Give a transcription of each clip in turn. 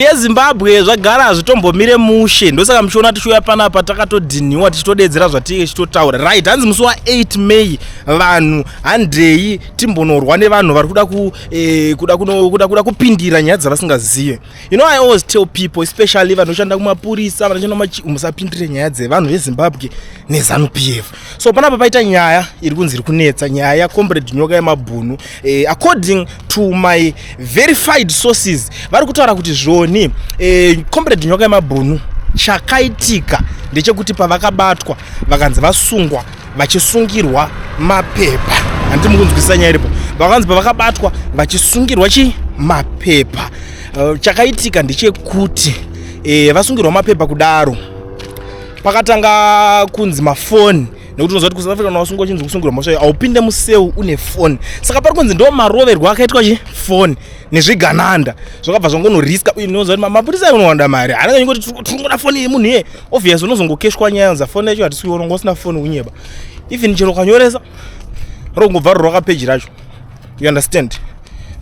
yezimbabwe zvagara hazvitombomire mushe ndosaka muchiona tichiuya panapa takatodhinhiwa tichitodeedzera zvatinge tichitotaura right hanzi musi wa8 may vanhu handei timbonorwa nevanhu vari kuda eh, kuda kuda kuda kupindira nyaya dzavasingazive you know i always tell people especially vanoshanda kumapurisa vanoshanda musapindire nyaya dzevanhu vezzimbabwe nezanu p f so panapa paita nyaya iri kunzi iri kunetsa nyaya yacomrade nyoka yemabhunu eh, according to my verified sources vari kutaura kuti zvoni eh, comrade nyoka yemabhunu chakaitika ndechekuti pavakabatwa vakanzi vasungwa vachisungirwa mapepa handi mukunzwisisa nyaya iripo vakanzi pavakabatwa vachisungirwa chi mapepa uh, chakaitika ndechekuti eh, vasungirwa mapepa kudaro pakatanga kunzi mafoni nekuti unoziva kuti kusouth africa unawasungwa uchinzi kusungirwa mhosva iyo haupinde museu une foni saka pari kunzi ndo maroverwo akaitwa chi foni nezvigananda zvakabva zvangonoriska uye unoziva kuti mapurisa ayo unowanda mari haana nyingo kuti tiringoda foni yemunhu iye obvious unozongokeshwa nyaya yonza foni yacho hatisi kuiona unga usina foni unyeba even chero ukanyoresa rongobva ruri rwakapeji racho you understand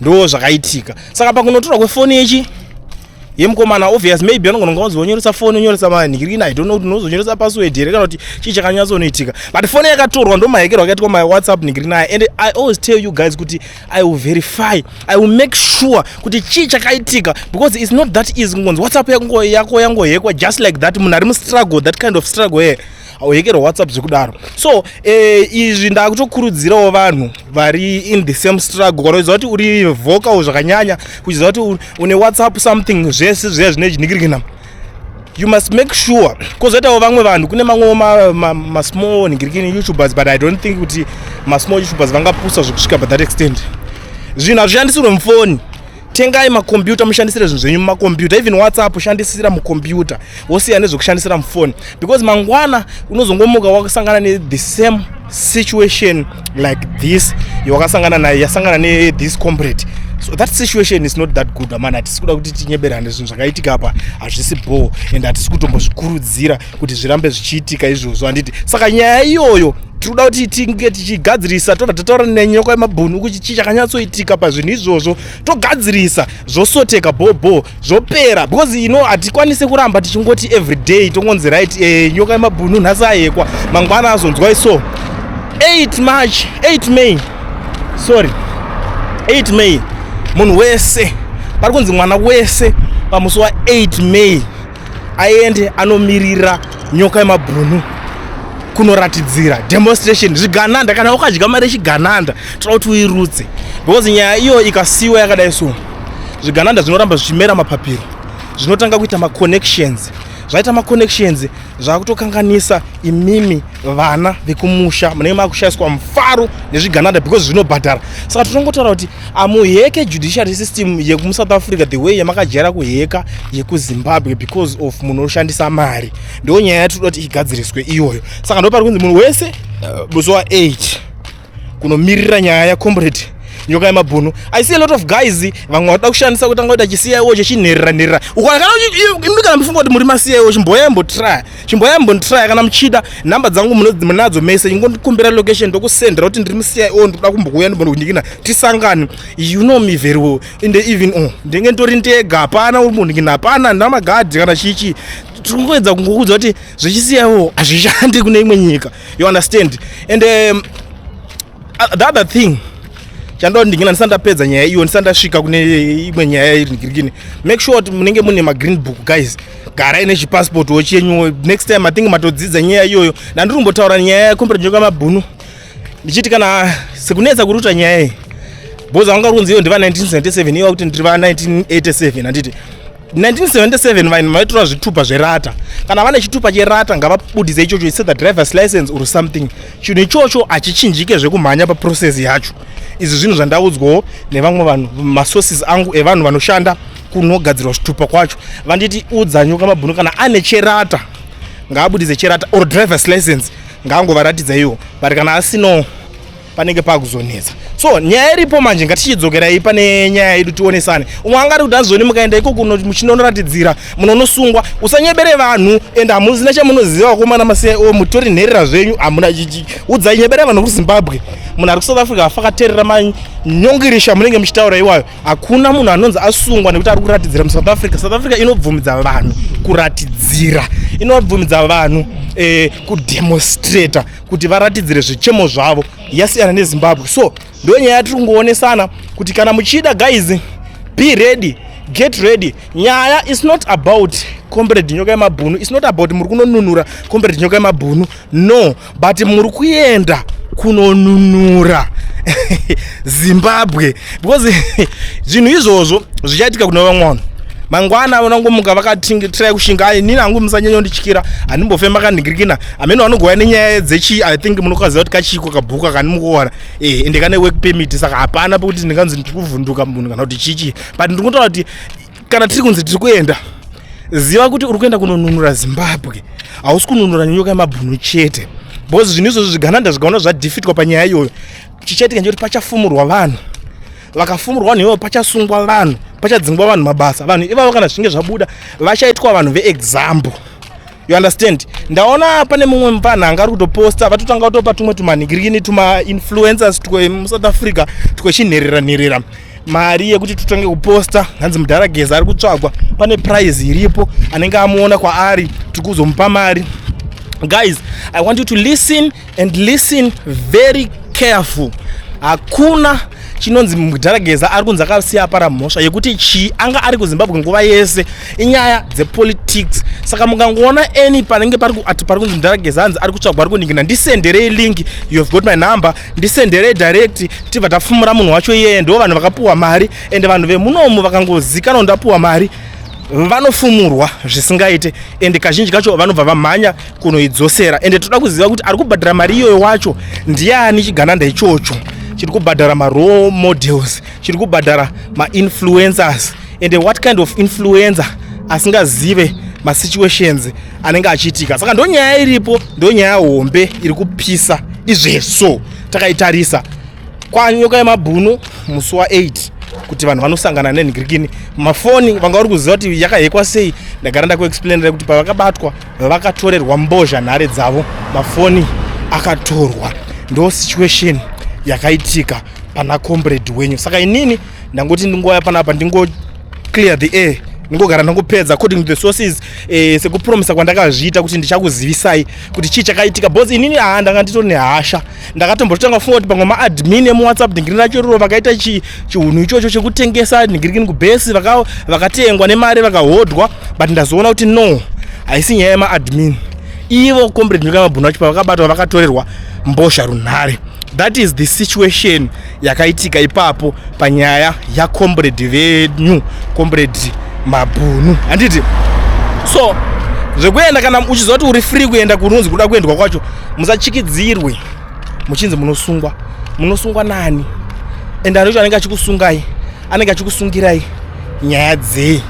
ndo zvakaitika saka pakunotorwa kwefoni yechi ye mukomana obvious maybe anogona kunga uzonyoresa foni onyoresa manhirina i don't know kuti unozonyoresa password here kana kuti chii chakanyatsonoitika but foni yakatorwa ndomahekerwa akaitwa my whatsapp nhirina aya and i always tell you guys kuti i will verify i will make sure kuti chii chakaitika because its not that easy kungonzi whatsapp yako yangohekwa just like that munhu ari mustruggle that kind of struggle here hauhekerwa whatsapp zvekudaro so eh, izvi ndakutokurudzirawo vanhu vari in the same struggle kana uchiziva kuti uri vocal zvakanyanya uchiziva kuti une whatsapp something zvese zviya zvine chinikirikina you must make sure kozoitawo vamwe vanhu kune mamwewo masmall ma, ma nigirikini youtubers but i don't think kuti masmall youtubers vangapusa zvekusvika by that extent zvinhu hazvishandisirwe mufoni tengai makombiyuta mushandisire zvinhu zvenyu mumakombiyuta even whatsapp shandisira mukombiyuta wosiya nezvekushandisira mufoni because mangwana unozongomuka wakasangana nethe same situation like this yawakasangana nayo yasangana nethis combrade so that situation is not that good amana hatisi kuda kuti tinyeberane zvinhu zvakaitika apa hazvisi bhoo and hatisi kutombozvikurudzira kuti zvirambe zvichiitika izvozvo handiti saka nyaya iyoyo tiri kuda kuti tinge tichigadzirisa tobva tataura nenyoko yemabhunu kuti chii chakanyatsoitika pazvinhu izvozvo togadzirisa zvosoteka bhobho zvopera because you know hatikwanise kuramba tichingoti every day tongonzi right eh, nyoka yemabhunu nhasi ayekwa mangwana azonzwai so 8 march 8 may sorry 8 may munhu wese pari kunzi mwana wese pamusi wa 8 may aende anomirira nyoka yemabhunu kunoratidzira demonstration zvigananda kana ukadya mari yechigananda tira kuti uirutse because nyaya iyo ikasiwa yakadai so zvigananda zvinoramba zvichimera mapapiro zvinotanga kuita maconnections zvaita maconnections zvakutokanganisa imimi vana vekumusha munenge makushaiswa mufaro nezvigananda because zvinobhadhara saka tinongotaura kuti amuheke judiciary system yekumusouth africa the way yamakajaira kuheka yekuzimbabwe because of munhu oshandisa mari ndo nyaya yatinoda kuti igadziriswe iyoyo saka ndo pari kunzi munhu wese uh, eh, buzowa 8 kunomirira nyaya yacomrade nyoka yemabhunu i see a lot of guys vamwe vatoda kushandisa kutanga kuita chicio chechinherera nherera ukanakana imi kana mufunga kuti muri macio chimboyai mbotraya chimboyai mbonditraya kana muchida nhamba dzangu munadzo mese ingondikumbira location ndokusendera kuti ndiri mucio ndikuda kumbokuuya ndimbondikinikina tisangane you know me very well in the even o oh, ndenge nditori ndega hapana uri munhu kina hapana ndina magadhi kana chichi tiri kungoedza kungokuudza kuti zvechicio hazvishandi kune imwe nyika you understand and um, the other thing chandoda ndingina ndisati ndapedza nyaya iyo ndisati ndasvika kune imwe nyaya iri ngirikini make sure kuti munenge mune magreen book guys garai nechipassport wo chenyu next time i think matodzidza nyaya iyoyo ndandiri kumbotaura nyaya yakomberenjwa kwamabhunu ndichiti kana sekunetsa kuruta nyaya iyi bhoza vanga uri kunzi iyo ndiva 1977 iwa kuti ndiri va 1987 handiti 1977 vanhu vaitora zvitupa zverata kana vane chitupa cherata ngavabudise ichocho ise the drivers license or something chinhu ichocho hachichinjike zvekumhanya paprocess yacho izvi zvinhu zvandaudzwawo nevamwe vanhu masources angu evanhu vanoshanda kunogadzirwa zvitupa kwacho vanditi udza nyoka mabhunu kana ane cherata ngaabudise cherata or drivers license ngaangovaratidza iwo but kana asinawo panenge pakuzonetsa so nyaya iripo manje ngatichidzokerai pane nyaya yedu tionesane umwe angari kuti azoni mukaenda ikoko muchinonoratidzira munonosungwa usanyebere vanhu and hamuzina chamunoziva komana masiya o oh, mutori nherera zvenyu hamuna chichi udzai nyebere vanhu kuzimbabwe munhu ari kusouth africa afakaterera manyongirisha munenge muchitaura iwayo hakuna munhu anonzi asungwa nekuti ari kuratidzira musouth africa south africa inobvumidza vanhu kuratidzira inobvumidza vanhu eh, kudemonstrator kuti varatidzire zvichemo zvavo yasiyana nezimbabwe so ndo nyaya yatiri kungoonesana kuti kana muchida guys be ready get ready nyaya is not about comrade nyoka yemabhunu is not about muri kunonunura comrade nyoka yemabhunu no but muri kuenda kunonunura zimbabwe because zvinhu izvozvo zvichaitika kuna vamwe vanhu mangwana vanangomuka vakatingi tirai kushinga ai nini hangu musanyanya undityira handimbofema kandingirikina ameno anogova nenyaya dzechi i think munokaziva kuti kachiko kabhuku akanimukuona eh, ende kane work permit saka hapana pekuti ndinganzi ndiri kuvhunduka munhu kana kuti chichi but ndiri kutoona kuti kana tiri kunzi tiri kuenda ziva kuti uri kuenda kunonunura zimbabwe hausi kununura nyoka yemabhunu chete because zvinhu izvozvo zvigananda zvikaona zvadhifitwa panyaya iyoyo chichaitika nje kuti pachafumurwa vanhu vakafumurwa vanhu ivovo pachasungwa vanhu pachadzingwa vanhu mabasa vanhu ivavo kana zvichinge zvabuda vachaitwa vanhu veexample you understand ndaona pane mumwe mupana anga ari kutoposta vatotanga kutopa tumwe tumanigirikini tumainfluencers twemusouth africa twechinherera nherera mari yekuti tutange kuposta hanzi mudhara geza ari kutsvagwa pane prize iripo anenge amuona kwaari tiri kuzomupa mari guys i want you to listen and listen very careful hakuna chinonzi mudharageza ari kunzi akasiya apara mhosva yekuti chii anga ari kuzimbabwe nguva yese inyaya dzepolitics saka mukangoona any panenge ati pari kunzi mudharageza anzi ari kutsvagwa ari kuningina ndisenderei link you have got my number ndisenderei direct tibva tafumura munhu wacho iyeye ndo vanhu vakapuwa mari and vanhu vemunomu vakangozikanwa ndapuwa mari vanofumurwa zvisingaite and kazhinji kacho vanobva vamhanya kunoidzosera ende toda kuziva kuti ari kubhadhara mari iyoyo wacho ndiani chigananda ichocho chiri kubhadhara marole models chiri kubhadhara mainfluencers ende what kind of influencer asingazive masituations anenge achiitika saka ndo nyaya iripo ndo nyaya hombe iri kupisa izveso takaitarisa kwanyoka yemabhunu musi wa8 kuti vanhu vanosangana nenhikirikini mafoni vanga vari kuziva kuti yakahekwa sei ndagara ndakuexplainira kuti pavakabatwa vakatorerwa mbozha nhare dzavo mafoni akatorwa ndo situation yakaitika pana comrade wenyu saka inini ndangoti ndingouya panapa ndingo clear the air ndingogara ndangopedza according to the sources eh, sekupromisa kwandakazviita kuti ndichakuzivisai kuti chii chakaitika bcause inini haa ndanga nditori nehasha ndakatombotanga kufunga kuti pamwe maadmin emuwhatsapp dhingiri racho iroro vakaita chihunhu ichocho chekutengesa dhingirikini kubhesi vakatengwa nemari vakahodhwa but ndazoona kuti no haisi nyaya yemaadmin ivo comrade nyika yemabhunu vacho pavakabatwa vakatorerwa mbozha runhare that is the situation yakaitika ipapo panyaya yacombrade venyu combrade mabhunu handiti so zvekuenda kana uchiziva kuti uri free kuenda kunonzi kuda kuendwa kwacho musachikidzirwe muchinzi munosungwa munosungwa nani and anocho anenge achikusungai anenge achikusungirai nyaya dzei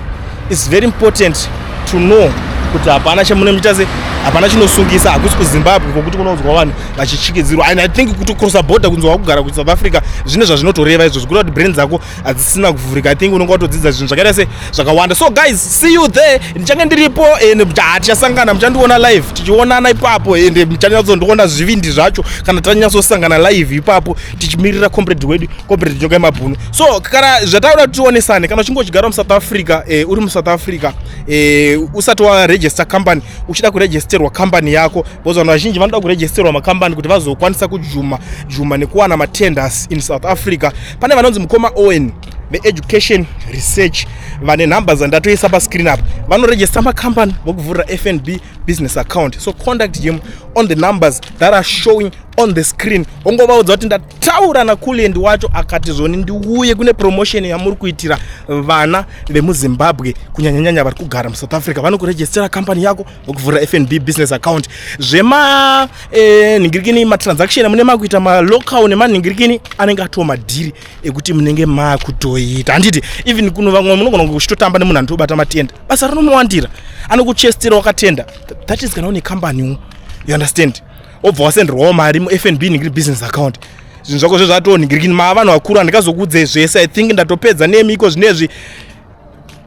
its very important to know kuti hapana chamunomuita se hapana chinosungisa hakusi kuzimbabwe kwokuti kunonzwa vanhu vachichikidzirwa and i think kuti crossa border kunzi wakugara kusouth africa zvine zvazvinotoreva izvo zvikuita kuti brain dzako hadzisina kuvhurika i think unenge watodzidza zvinhu zvakaita se zvakawanda so guys see you there ndichange ndiripo and hatichasangana muchandiona live tichionana ipapo and muchanyatsondiona zvivindi zvacho kana tanyatsosangana live ipapo tichimirira comrade wedu corporate nyoka yemabhunu so kana zvataura kuti tionesane kana uchinge uchigara musouth africa e, uri musouth africa e, usati waregister company uchida kuregisterwa company yako because vanhu vazhinji vanoda kuregisterwa macompany kuti vazokwanisa kujuma juma nekuwana matenders in south africa pane vanonzi mukoma owen veeducation research vane nhamba dzandatoisa pascreen apa vanoregista macompany vokuvhurira fnb business account so conduct him on the numbers that are showing on the screen ongovaudza kuti ndataura nakulend wacho akati zvoni ndiuye kune promotion yamuri kuitira vana vemuzimbabwe kunyanyanyanya vari kugara musouth africa vanokurejistera company yako vokuvhura fnb business account zvema eh, nhingirikini matransaction amune makuita malocal nemanhingirikini anenge atoo madhiri ekuti munenge makutoita handiti even kuno vamwe munogona kunge kuchitotamba nemunhu anotobata matenda basa rinomowandira anokuchestera wakatenda that is kana une company you understand obva wasenderwawo mari mufnb ningiri business account zvinhu zvako zve zvatoningirikini maa vanhu vakuru handikazokuudzei zvese i think ndatopedza nemi iko zvinezvi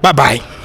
babai